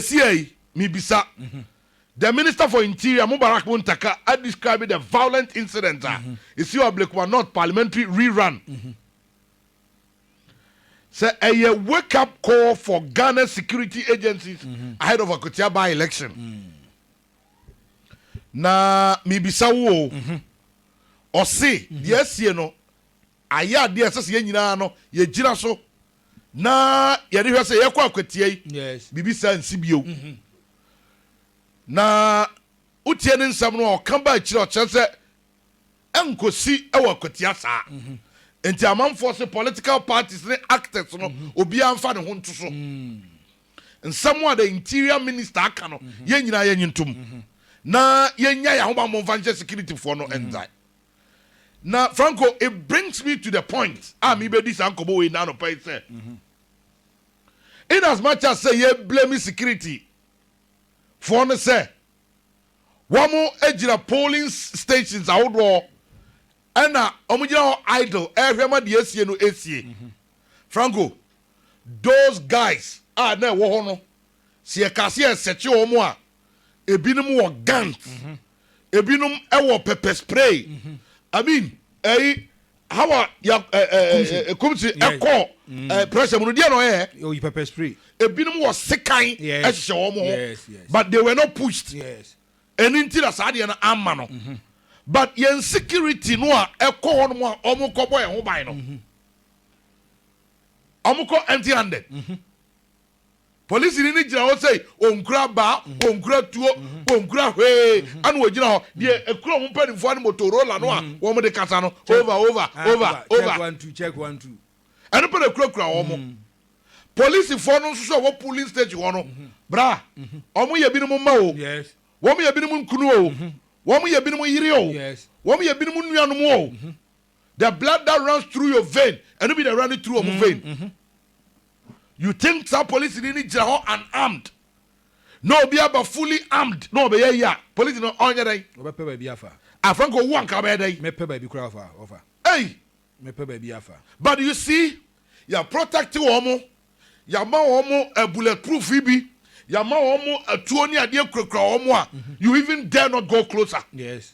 Seesei yi, mibisa, The Minister for Interior, Mubarak Muntaka, a described the violent incident a esii wɔ Ablekuma North Parliamentary Rerun sɛ ɛyɛ wake up call for Ghana security agencies ahead of Akwatia by-election. Na mibisa wo o, ɔse deɛ asie no ayɛ adeɛ a ɛsɛ sɛ yɛn nyinaa no yɛgyina so na yɛde hwɛ sɛ yɛkɔ akwatia yi biribi saa nsi bio mhm. na wotie ne nsɛm no a ɔka ba akyiri ɔkyerɛ sɛ ɛnkɔsi wɔ akwatia saa mhm. nti amanfoɔ se political parties ne actors no mhm. obiara mfa ne ho nto so mm. nsɛm a the interior minister aka no yɛn nyinaa yɛnye ntom na yɛnya yɛ ahobammɔ mfa nhyɛ securityfoɔ no nzae Na Franco, it brings me to the point a mebɛdi saa nkɔmmɔ wei na anɔpa yi sɛ, in as much as sɛ yɛblame security foɔ no sɛ wɔagyina polling stations ahodoɔ ɛna wɔgyina hɔ idle ɛrehwɛ ma deɛ asie no asie. Franco, those guys a na ɛwɔ hɔ no, sɛ yɛka sɛ yɛsɛkye wɔn a, ebinom wɔ guns mhm. ebinom wɔ pepper spray mhm. i mean ɛyi eh, how a ya ɛɛ ekumsi ɛkɔ ɛɛ pressure mu no deɛ na ɔyɛ oyi pepper spray ebinom wɔ sekan ɛhyehyɛ wɔn ho but they were not pushed ɛni nti na saa deɛ no ama no mhm. but yɛn security no a ɛkɔ hɔ nom a wɔn kɔ bɔ ɛho ban no wɔn kɔ empty handed. polisini no gyina hɔ sɛ ɔnkura baa ɔnkura tuo ɔnkura hwee ana ɔgyina hɔ deɛ ɛkura wɔn mpanimfoɔ no motorola no a wɔn de kasa no over over over over ɛno pɛ na ɛkurakura wɔn polisifoɔ no nso so a wɔ polling station hɔ no bra wɔn yɛ binom mma o wɔn yɛ binom nkunu o wɔn yɛ binom yere o wɔn yɛ binom nuanom o the blood that runs through your vein ɛno bi na running through ɔmo mm, vein mm-hmm. you think saa police ni ni gyina hɔ unarmed na obi aba fully armed na ɔbɛyɛ yi a police no ɔnyɛ dɛn ɔbɛpɛ baabi afa afranko owu anka ɔbɛyɛ dɛn mɛpɛ baabi kura afa ɔfa ɛyi mɛpɛ baabi afa but you see yà protect wɔn mo yà ma wɔn mo eh, bullet proof yi bi yà ma wɔn mo atuo eh, ní adeɛ kurakura wɔn mo a mm-hmm. you even dare not go closer. yes.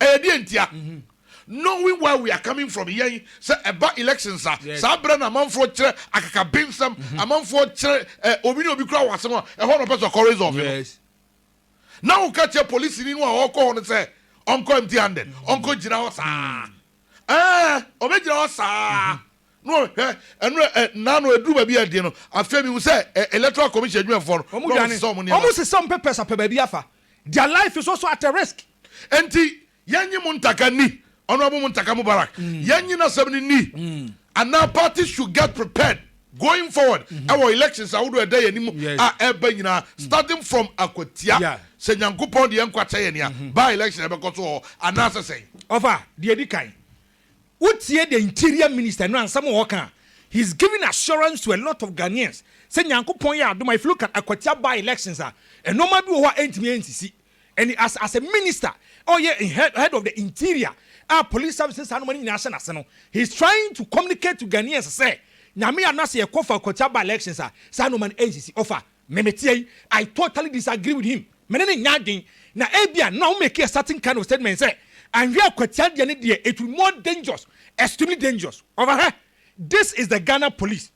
Ɛyɛ deɛ ntia? Knowing where we are coming from, yɛn sɛ ɛba elections a, saa berɛ na amanfoɔ kyerɛ akakabensɛm, amanfoɔ kyerɛ ɛ, obi ne obi kura wɔ asɛm a, ɛhɔ na ɔpɛ sɛ ɔkɔ resolve no. Na woka kyerɛ polisini no a ɔkɔ hɔ no sɛ ɔnkɔ empty handed, ɔnkɔ gyina hɔ saa. Ɛɛ, ɔbɛgyina hɔ saa. No hwɛ ɛno ɛ na no ɛduru baabi a ɛdeɛ no afei mehu sɛ ɛ electoral commission adwumafoɔ no na wɔn sesɛ wɔn nneɛma. Wɔn sesɛ wɔn pɛpɛs apɛ baabi afa Their life is also at a risk. Enti yɛnye mo ntaka nni. Honourable Muntaka Mubarak, yɛnye n'asɛm no nni anaa parties should get prepared going forward wɔ elections ahodoɔ a ɛda yɛn anim a ɛreba nyinaa starting from akwatia sɛ Nyankopɔn de yɛn nkwa kyɛ yɛn a by-election ɛbɛkɔ so wɔ hɔ anaasɛ sɛn? Ɔfa, deɛ ɛdi kan, Wotie the interior minister no ansɛm a ɔɔka a, he is giving assurance to a lot of Ghanaians sɛ Nyankopɔn yɛ adom a if you look at Akwatia by elections a, nnoɔma bi wɔ hɔ a ɛntumi ɛnsisi. And as as a minister a ɔyɛ in head head of the interior a police service ne saa nnoɔma no nyinaa hyɛ n'ase no, he is trying to communicate to Ghanaians sɛ Nyame yɛ adom na sɛ yɛkɔ fa Akwatia by elections a, saa nnoɔma no ɛnsisi. Ɔfa. Me meteɛ yi I totally disagree with him me ne no nyɛ adwen na ebia na ɔmo make a certain kind of statement sɛ anhwɛ a Kwatia deɛ ne deɛ it will more dangerous extremely dangerous ɔfa hwɛ this is the Ghana police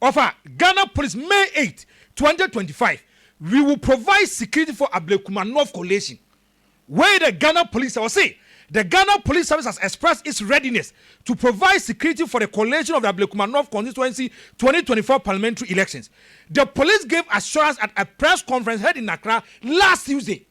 ɔfa Ghana police May eight twenty twenty five we will provide security for Ablekuma North Coalition Wei dɛ Ghana Police a wɔse The Ghana Police Service has expressed its readiness to provide security for the collation of the Ablekuma North Constituency twenty twenty four Parliamentary elections. The police gave assurance at a press conference held in Accra last Tuesday.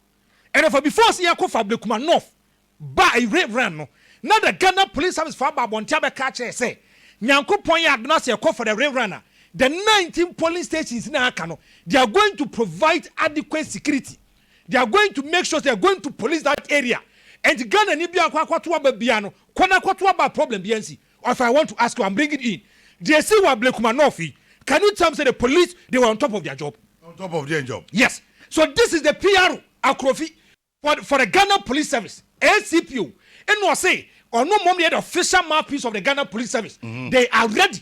Ɛnɛfa before sɛ yɛkɔ fa Ablekuma North ba re run no, na the Ghana Police Service fo aba abɔnten abɛka akyerɛ sɛ Nyankopɔn yɛ adom na sɛ yɛkɔ fa the re run a, the nineteen polling stations na aka no, they are going to provide adequate security. They are going to make sure sɛ they are going to police that area and Ghana ni biara nkɔ akɔto aba biara no kɔ na kɔto aba a problem biara nsi. Ɔfɛ I want to ask you I'm bringing in deɛ ɛsi wɔ Ablekuma North yi can you tell me sɛ the police they were on top of their job? On top of their job? Yes so this is the PRO Akrofi for for the Ghana police service ACPO ɛna ɔse ɔno mmom na yɛ the official mouthpiece of the Ghana police service they are ready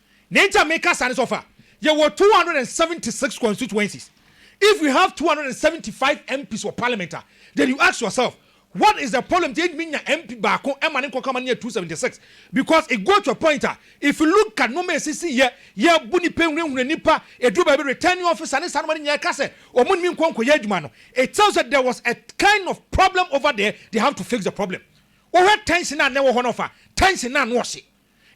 Nea nti a meka saa ne sɛ, ɔfa, yɛwɔ two hundred and seventy six constituencies, if we have two hundred and seventy five MPs wɔ parliament a, then you ask yourself, what is the problem nti a yɛntumi nya MP baako ma ne nkɔka ma no nyɛ two seventy six? Because it goes to a point a, if you look at nnoɔma a ɛsisi yɛ, yɛbu nnipa, ɛhunahuna nnipa, ɛduru baabi returning officer ne saa nnoɔma no nyinaa ɛka sɛ wɔn ntumi nkɔ nkɔyɛ adwuma no, it tells that there was a kind of problem over there, they have to fix the problem. Wohwɛ tension a na ɛwɔ hɔ no, ɔfa, tension no ano ɔhye.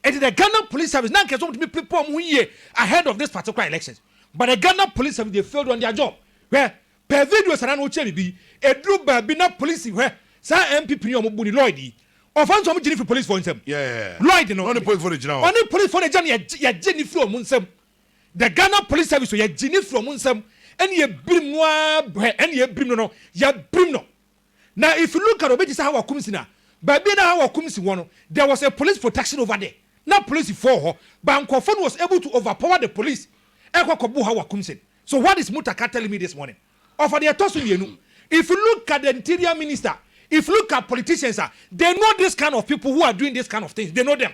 Enti the Ghana police service na anka ɛsɛ sɛ wɔtumi prepare wɔn ho yie ahead of this particular elections but the Ghana police service they failed on their job. Hwɛ, pɛ video saa na na wokyerɛ biribi yi. Ɛduru baabi na polisi hwɛ saa NPP ni a wɔbu ni Lloyd yi, ɔfa nso wɔgye no firi policefoɔ nsam. Lloyd no, ɔne policefoɔ no agya no yɛgye no firi wɔn nsam. The Ghana police service yɛgye no firi wɔn nsam ɛne yɛbirim no ara hwɛ ɛne yɛbirim no no yɛbirim no. Na if you look at obi te sɛ Hawa Kumsi na baabi a na Hawa Kumsi wɔ no there was a police protection over there na polisifoɔ wɔ hɔ but nkorɔfoɔ no was able to overpower the police ɛkɔ kɔ bo Hawa Kumsin so what is Mutaka telling me this morning ɔfa deɛ ɛtɔ so mmienu if you look at the interior minister if you look at politicians a they know this kind of people who are doing this kind of things they know them.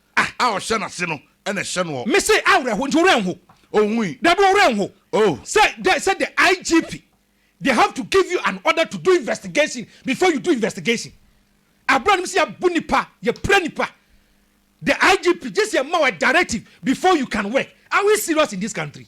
Ah! A ɔhyɛ n'ase no na ɛhyɛ noɔ. Me se awerɛho nti wo werɛ nho. Ɔnhui. Dabi wo werɛ nho. Oh. Sɛ dɛ sɛ the IGP they have to give you an order to do investigation before you do investigation. Aberɛ a nim sɛ yɛabu nipa, yɛpira nipa. The IGP gyesi ɛma wo a directive before you can work. Are we serious in this country?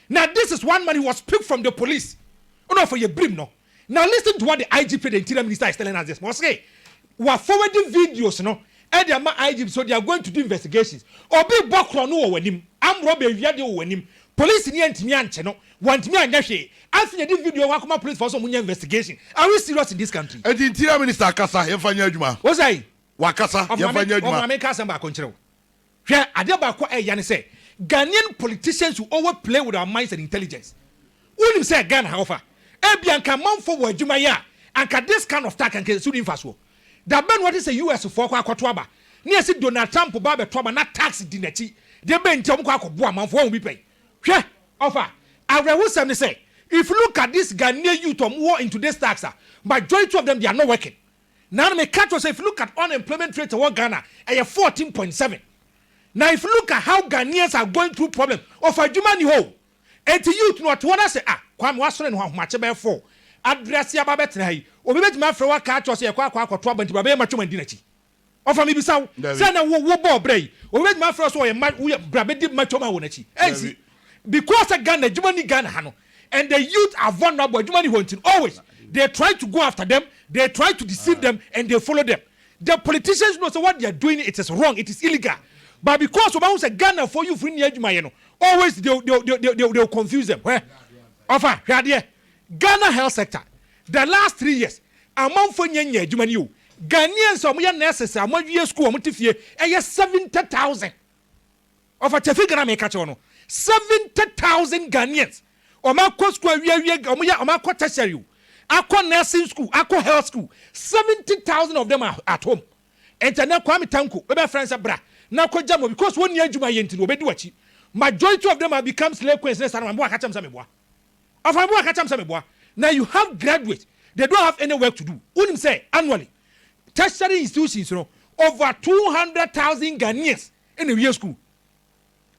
Na this is one man he was picked from the police na ɔfɔ yɛ birim no na listen to what the IGP the interior minister is telling us this ma ɔse wa forward videos no ɛde ama IGP so they are going to do investigations obi bɔ korɔ no wɔ w'anim arm robber awia deɛ wɔ w'anim police ni antumi ankye no wɔntumi anyɛ hwee afei na ɛde video ho akɔma police fɔ sɛ ɔmo nyɛ investigation are we serious in this country. Enti interior minister akasa yɛmfa nyɛ adwuma? Wo sɛe? Wakasa Ɔfo ma yɛmfa me nyɛ ɔfo adwuma? ma menka asɛm baako nkyerɛ wo Hwɛ, adeɛ baako a ɛya ne sɛ, Ghanaian politicians will always play with our minds and intelligence. Wonim sɛ Ghana ha wɔfa? Ebia anka amanfoɔ wɔ adwuma yɛ a, anka this kind of talk anka ɛso nni mfasoɔ. Da bɛn na woate sɛ US foɔ kɔ akɔto aba? Ne yɛse Donald Trump ba abɛto aba na tax di n'akyi. Deɛ bɛn nti a wɔkɔ akɔboa amanfoɔ? Woahu bi pɛn? Hwɛ, ɔfa, awerɛhosɛm ne sɛ, if you look at this Ghanaian youth a wɔwɔ into this tax a, majority of them they are not working. Na me ka kyerɛ wo sɛ if you look at unemployment rate ɛwɔ Ghana ɛyɛ fourteen point seven na if you look at how Ghanaians are going through problem of adwuma ni hɔ o enti youth no ɔte hɔ na sɛ ah Kwame wasɔre ne ho ahomakye bɛyɛ four address yi aba abɛtena ha yi obi bɛtumi afrɛ wo aka akyerɛ wo sɛ yɛkɔ akɔ akɔto aba nti bra bɛyɛ matwam andi n'akyi Ɔfa mibisa wo, sɛ na wo wo bɔɔ brɛ yi, obi bɛtumi afrɛ wo sɛ ɔyɛ ma wo yɛ bra bɛdi matwam a wɔ n'akyi? Ɛnsi. Because sɛ Ghana adwuma nni Ghana ha no and the youth are vulnerable adwuma nni hɔ nti no always they try to go after them, they try to deceive them and they follow them. The politicians know sɛ what they are doing no it is wrong, it is illegal but because wɔbɛhu sɛ Ghanafoɔ youth no nni adwuma yɛ no always they they they they they will confuse them. Hwɛ Ɔfa hwɛ adeɛ. Ghana health sector the last three years amanfoɔ nnya nnya adwuma ni o Ghanaians a wɔyɛ nurses a wɔawie school a wɔte fie ɛyɛ seventy thousand ɔfa Tefi Ghana meka kyerɛ wo no seventy thousand Ghanaians wɔn akɔ school awie awie wɔn yɛ wɔn akɔ tertiary o akɔ nursing school akɔ health school seventy thousand of them are at home ɛnti ɛnɛ Kwame Tanko bɛbɛ friend sɛ bra na kɔ gya mu because wɔn nni adwuma yɛ nti no wɔbɛdi wakyi majority of them have become slay queens ne saa na wɔn boa ka kyɛm sɛ meboa. Ɔfa me boa ka kyerɛ me sɛ meboa. Na you have graduates, they don't have any work to do. Wonim sɛ annually, tertiary institutions no, over two hundred thousand Ghanaians na ɛwie sukuu.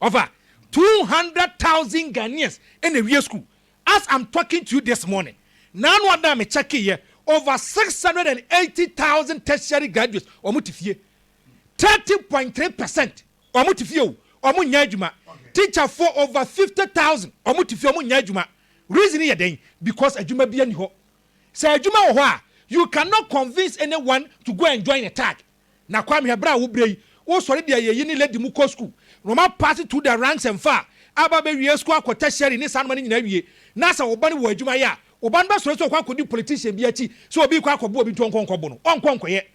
Ɔfa, two hundred thousand Ghanaians na ɛwie sukuu. As I'm talking to you this morning, na ano ada a me kyɛkeeɛ, over six hundred and eighty thousand tertiary graduates, wɔte fie. Thirty point three percent ɔmo te fie o ɔmo nyɛ adwuma teacher foɔ over fifty thousand ɔmo te fie ɔmo nyɛ adwuma reason yɛ dɛn because adwuma bia ni hɔ sɛ adwuma wɔ hɔ a you can not convince any one to go and join a tag na kwame hwɛ bra wo brɛ yi wo sɔre deɛ yɛ yi ne lady mu kɔ school na ɔmo apass through the ranks and far aba bɛ wie school akɔ tertiary ne saa noma no nyinaa wie na sɛ ɔba no wɔ adwuma yɛ a ɔba no bɛ sɔre sɛ ɔkɔ akɔdi politician bi akyi sɛ obi kɔ akɔbo obi nti ɔnkɔ nkɔ bo no ɔnkɔ nkɔyɛ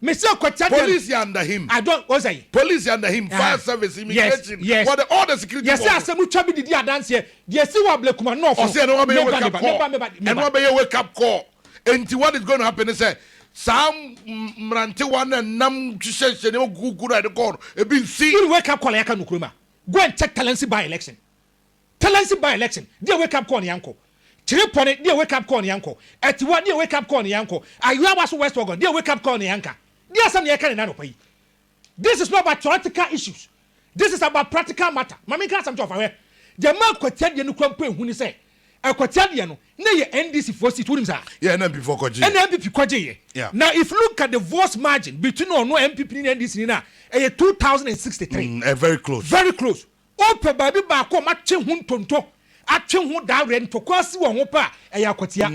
Me se kɔkyɛ dɛm. Police yɛ under him. I don't wɔn sɛ yi. Police yɛ under him, fire service, immigration, yes, yes. wɔde all the security bɔɔl. Yɛsɛ asɛm twa bi didi adanseɛ deɛ si wɔ ablekuma nɔɔfo. Ɔsɛ ɛno abɛyɛ wake up call. Ɛno abɛyɛ wake up call. Enti what is going to happen ne sɛ saa mmerantewa no nam hyehyɛ hyɛ nneɛma kukuku na ɛde kɔɔ no ebi nsi. Wuli wake up call a yɛaka no kurom a go and check Talensi by election. Talensi bae lɛkyen, deɛ wake up call ne yankɔ Kyere pɔne, deɛ wake up call ne yankɔ Atiwa, deɛ wake up call ne yankɔ Ayoa waso west wagon, deɛ wake up call ne yanka Deɛ asɛm na yɛka ne na anɔpa yi This is not about theoretical issues This is about practical matter Ma menka asɛm kyerɛ wo fa hwɛ Deɛ ɛmaa Akwatia deɛ no kura mpo ɛhu ne sɛ Akwatia deɛ no, na ɛyɛ NDC foɔ seat, wonim saa? Yeah, ɛna NPP foɔ kɔ gyeeɛ. Ɛna NPP kɔ gyeeɛ. Yeah. Now if look at the votes margin between ɔno NPP ni ne NDC ni no a, ɛyɛ two thousand and sixty three. Mm, eh, very close. Very close. Wopɛ baabi baako a wɔatwe ho ntonto, atwe ho dawere, ntɔkwaw asi wɔn ho pɛ a, ɛyɛ akwatia.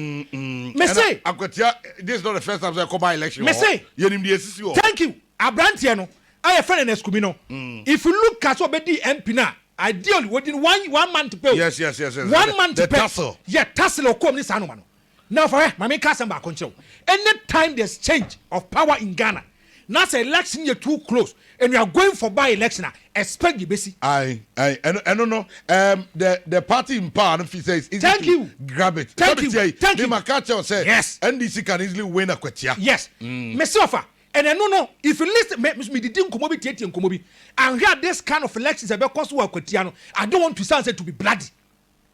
Mese. Ɛna akwatia, this is not the first time sɛ ɛkɔba election wɔ hɔ. Mese. Yɛnim deɛ ɛsisi wɔ hɔ. Thank you. Abranteɛ no a yɛfrɛ no Ernest Kumi no, if you look at sɛ ɔbɛdii MP no a, ideally, ɔdi no one, one month pɛ o. Yes, yes, yes, yes. One month pɛ. The tussle. Yeah, tussle a ɔkɔɔ mu ne saa nnoɔma no. Now fa hwɛ, ma menka asɛm baako nkyerɛ wo, any time there's change of power in Ghana na sɛ election yɛ too close and we are going for by election a, expect deɛ ɛbɛsi. Aye, aye, ɛno, ɛno no, um, the, the party in power no feel sɛ it's easy Thank to you. grab it. Thank Sɛ you. metia yi, Thank me you. maka akyerɛ wo sɛ Yes. NDC can easily win a kwatia. Yes. Mese ɔfa. And ɛno no, if you listen, me, me, medidi nkɔmmɔ bi tietie nkɔmmɔ bi. Anhwɛ a this kind of elections a ɛbɛkɔ so wɔ akwatia no, I don't want to sound say to be bloody.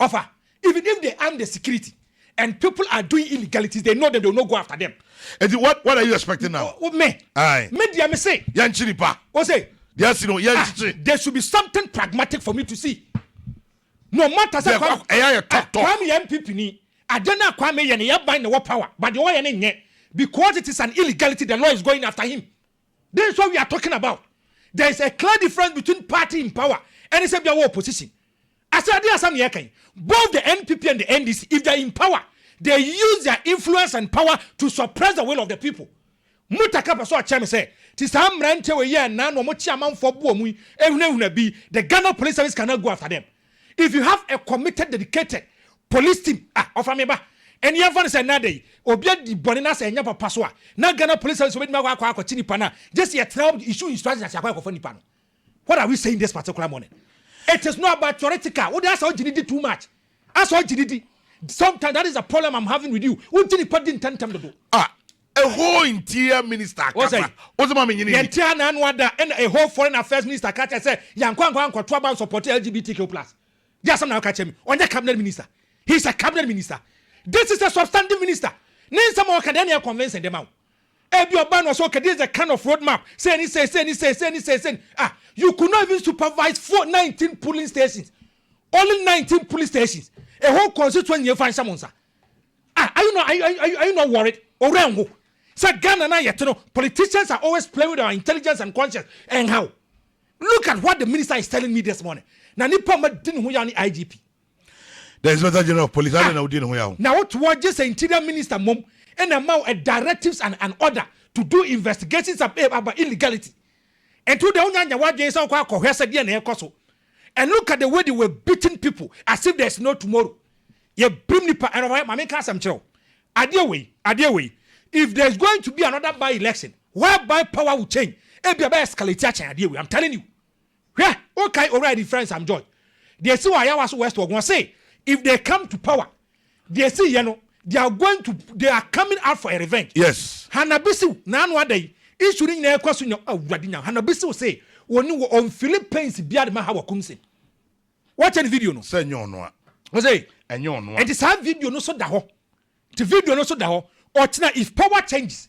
Offer even if they arm the security and people are doing illegalities they know them they will not go after them. Eti what what are you expecting now? O, o, me. Aye. Me deɛ me se. Yɛn kyiri pa. O se. Deɛ asi no yɛn kyikyi. Ah, there should be something pragmatic for me to see. No matter sɛ Kwame. Ɛyɛ yɛ tɔtɔ. Ah, Kwame yɛ MPP ni. Adeɛ na Kwame yɛ no yɛ ban na wɔ power but deɛ ɔyɛ no nyɛ because it is an illegality the law is going after him. Then is what we are talking about. There is a clear difference between party in power ɛne sɛ bia wɔ opposition. Ase adeɛ asɛm na yɛka yi. Both the NPP and the NDC, if they are in power, they use their influence and power to suppress the will of the people. Mutaka pɛ sɛ ɔkyerɛ me sɛ te saa mmeranteɛ wei yɛ nnan na wɔkye amanfoɔ boɔ mu yi ehunahuna bi, the Ghana Police Service cannot go after them. If you have a committed dedicated police team ah ɔfa me ba ɛne yɛmfa no sɛ ɛnɛ ada yi obi adi bɔne na sɛ ɛnyɛ papa so a na Ghana police service obɛtumi akɔ akɔ akɔkye nipa no a gyesi yɛtena hɔ issue instruction ase akɔ akɔfa nipa no what are we saying this particular morning it is not about theoretical wode asɛ ɔgye ne di too much asɛ ɔgye ne di sometimes that is the problem I'm having with you wogye nipa di ntɛntɛm dodo ah Ɛhɔɔ Interior Minister Wo sɛ, kasa wodze ma me nye no yɛnte ha na ano ada na ɛhɔɔ Foreign Affairs Minister ka kyerɛ sɛ yɛankɔ ankɔ ankɔto aba ansupporte LGBTQ plus de asɛm na woka kyerɛ me? Ɔnyɛ Cabinet Minister, he is a Cabinet Minister, this is a substantive Minister, ne nsɛm a ɔka deɛ ɛna ɛyɛ convincing de ma wo? Ebia ɔbaa no ɔsɛ okay this is the kind of road map sei ne sei sei ne sei sei ne sei sei ne ah you could not even supervise four nineteen polling stations only nineteen polling stations ɛhɔɔ constituent nyie fa nhyɛ mo nsa Ah are you not are you are you are you not worried? Owura nhu sɛ Ghana no a yɛte no politicians are always playing with our intelligence and conscience ɛnha wo. Look at what the minister is telling me this morning na nipa ma di ne ho yaw ne IGP. The inspector general of police adɛn na wodi ne ho yaw? Na wotoɔ gye sɛ interior minister mmom ɛna ɛma wo a directives and an order to do investigations about illegality. Ɛnti wo deɛ wonya nyɛ w'adwene sɛ wokɔ akɔhwɛ sɛ deɛ na ɛrekɔ so And look at the way they were beating people as if there is no tomorrow. Yɛbirim nipa ɛnna ɔma maame nka asɛm kyerɛ wo. Adeɛ wei, adeɛ wei. If there is going to be another by election whereby power will change, ebi ɛbɛ escalate akyɛn adeɛ wei. I'm telling you. Hwɛ, wokae owura yɛ difference am George. Deɛ esi wɔ ayawa so west wɔ wɔn se if they come to power Deɛ ɛsii yɛ no, they are going to they are coming out for a revenge. Yes. Hannah Bisiw, n'ano ada yi, issue no nyinaa ɛkɔ so nya awurade nya. Hannah Bisiw se wɔne wɔ on feeling pains biara de ma Hawa Kumsin. Wɔkyɛ ne video no. Sɛ ɛnyɛ ɔno a. Ɔsɛ. Ɛnyɛ ɔno a. Ɛnti saa video no so da hɔ. Ti video no so da hɔ. Ɔkyena if power changes,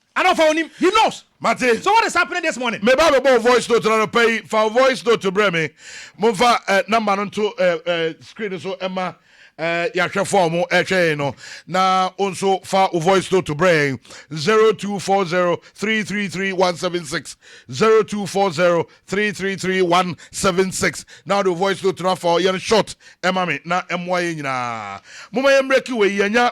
Ana ɔfa onim? He knows! Mate. So what is happening this morning? Me ba bɛbɔ wo voice note no anɔpa yi, fa wo voice note brɛ me. Momfa eh, number no nto eh, eh, screen no so ɛma eh, yɛahwɛfo a wɔn ɛhwɛ yɛn no. Na wo nso fa wo voice note brɛ yɛn 0240333176 0240333176 na wode wo voice note no afa yɛn short ɛma me na ɛmmoa yɛn nyinaa. Momma yɛn mmerɛki wei yɛnya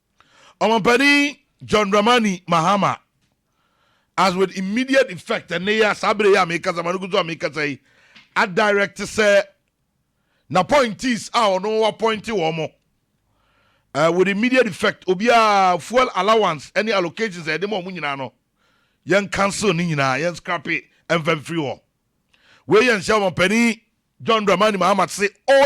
Ɔmampanin John Dramani Mahama has with immediate effect, ɛnnɛ yi a, saa bere yi a merekasa, ma no gu so a merekasa yi, adirect sɛ n'appointees a ɔno appointe wɔn mo, eh, with immediate effect, obiara fuel allowance ne allocations a yɛde ma wɔn nyinaa no, yɛn cancel ne nyinaa, yɛn scrape ɛmfa mfiri hɔ. Wei yɛ nhyɛ Ɔmampanin John Dramani Mahama se ɔyɛ.